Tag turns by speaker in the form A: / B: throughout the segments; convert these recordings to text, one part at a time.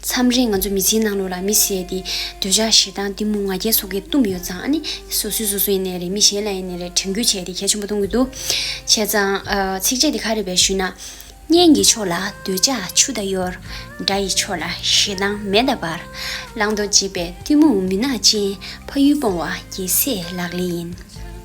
A: མཚམས་རེ་ང་ཚོ་མི་ཚེའི་ནང་ལོགས་ལ་མི་ཟད་དེ། འདོད་ཆགས་ཞེ་སྡང་གཏི་མུག་ང་རྒྱལ་སོགས་ཀྱིས་བཏུམས་ཡོད་ཙང་ཨ་ནི། སོ་སོས་སོ་སོ་ཡིན་ནའི་རེད་མི་གཞན་ལ་ཡིན་ནའི་རེད་དྲན་བསྐུལ་བྱས་ཏེ་གལ་ཆེན་པོ་གཏོང་གི་འདུག་བྱས་ཙང། ཚིགས་བཅད་འདི་ཁ་རེད་པས་ཞུས་ན། གཉེན་གྱི་ཕྱོགས་ལ་འདོད་ཆགས་ཆུ་ཟླ་གཡོར། དགྲ་ཡི་ཕྱོགས་ལ་ཞེ་སྡང་མེ་མདའ་འབར། བླང་དོར་འབྱེད་པའི་གཏི་མུག་མུན་ནག་ཅན། ཕ་ཡུལ་སྤོང་བ་རྒྱལ་སྲས་ལག་ལེན་ཡིན།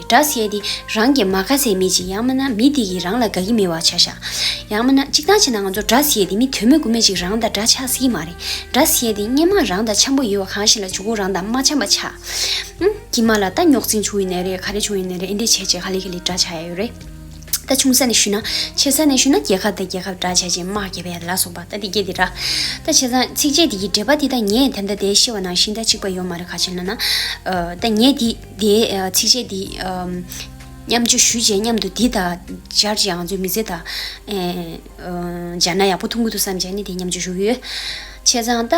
A: སྒྲ་བཤད་དེ་རང་གིས་མ་ག་ཚད་མེད་ཅིག་ཡང་མིན་ན་མི་དེ་གིས་རང་ལ་དགའ་གི་མེད་བ་བྱ་ཞག་ཡང་མིན་ན་གཅིག་ཐང་ཆད་ན་ང་ཚོར་སྒྲ་བཤད་དེ་མི་དོན་མེད་དགུ་མེད་ཅིག་རང་དང་འདྲ་ཆགས་སྲིད་ཀྱི་མ་རེད་སྒྲ་བཤད་དེ་སྙན་མང་རང་དང་འཆམ་པོ་ཡོད་བ་གང་ཞིག་ལ་འཇུག་གོ་རང་དང་མ་འཆམ་པ་ཆགས་ཨང་ཀྱི་མ་ལ་ད་ཉོག་འཛིང་བྱུང་ཡི་ནས་རེད་ག་རེ་བྱུང་ཡི་ནས་རེད་ཨེ་འདྲས་བྱས་རྗེས་ག་ལེ་ག་ལེ་འདྲ་ཆགས་ཡ་ཡོད་རེད་ད་ཆུང་ས་ནས་ཞུས་ན་ཆེ་ས་ནས་ཞུས་ན་རྒྱལ་ཁབ་དང་རྒྱལ་ཁབ་འདྲ་བྱས་རྗེས་དམག་རྒྱལ་བས་ལ་སོགས་པ་ད་དེ་སྐད་དེ་ར་ད་བྱས་ཙང་ཚིགས་བཅད་དེ་གི་འགྲེལ་པ་དེ་ད་ངས་དེ་ལྟ་དེ་ཤེས་བ་ནང་བཞིན་ད་གཅིག་པ་ཡོད་མ་རེད་ག་ཅིག་ན་ན་ད་ངས་དེ། དེའི་ཚིགས་བཅད་འདི། མཉམ་སྦྱོར་ཞུས་བཅས་མཉམ་དུ་འདི་དང། སྦྱར་བཅས་ཨང་ཚོད་མི་བཟད་དང། སྦྱར་ན་ཡག་པོ་འཐུང་གི་འདུག་བསམ་བྱས་ནས་དེ་མཉམ་སྦྱོར་ཞུ་གི་ཡོད། བྱས་ཙང་ལྟ།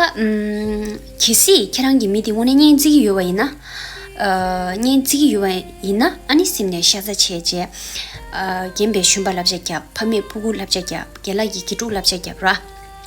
A: གལ་སྲིད་ཁྱེད་རང་གི་མི་དེ་དངོས་གནས་གཉེན་བརྩི་གི་ཡོད་པ་ཡིན་ན། གཉེན་བརྩི་གི་ཡོད་པ་ཡིན་ན་ཨ་ནི་སེམས་ནས་ཤ་ཚ་བྱས་རྗེས། རྒན་པའི་ཤུན་པ་བསླབ་བྱ་རྒྱབ་ཕ་མས་ཕུ་གུ་བསླབ་བྱ་རྒྱབ་རྒན་ལགས་ཀྱིས་དགེ་ཕྲུག་བསླབ་བྱ་རྒྱབ་ར།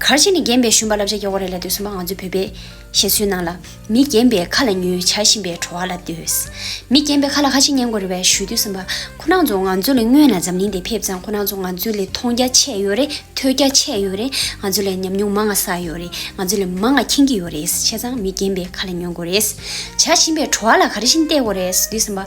A: གར་བྱེད་ནི་རྒན་པའི་ཤུན་པ་བསླབ་བྱ་སྐྱོ་བ་རེད་ལ་ལྟོས་སོ་མ་ང་ཚོའི་བོད་པས། བཞེད་ཚུལ་ནང་ལ། མི་རྒན་པའི་ཁ་ལ་ཉོན་བྱ་བཞིན་པའི་བྲོ་བ་ལ་ལྟོས། མི་རྒན་པའི་ཁ་ལ་ཁ་ཆེ་ཉན་དགོས་རེད་བས་ཞུ་དུས་སམ་པ། ཁོ་ནག་ཚོ་ང་ཚོ་ལས་སྔོན་ལ་འཛམ་གླིང་འདི་ཕེབས་ཙང་ཁོ་ནག་ཚོ་ང་ཚོ་ལས་མཐོང་རྒྱ་ཆེ་ཡོད་རེད་ཐོས་རྒྱ་ཆེ་ཡོད་རེད་ང་ཚོ་ལས་ཉམས་མྱོང་མང་ང་བསགས་ཡོད་རེད་ང་ཚོ་ལས་མང་ང་མཁྱེན་གྱི་ཡོད་རེད་བྱས་ཙང་མི་རྒན་པའི་ཁ་ལ་ཉོན་དགོས་རེད་བྱ་བཞིན་པའི་བྲོ་བ་ལ་ག་རེ་བཞིན་བལྟས་དགོས་རེད་ཟེར་དུས་སམ་པ།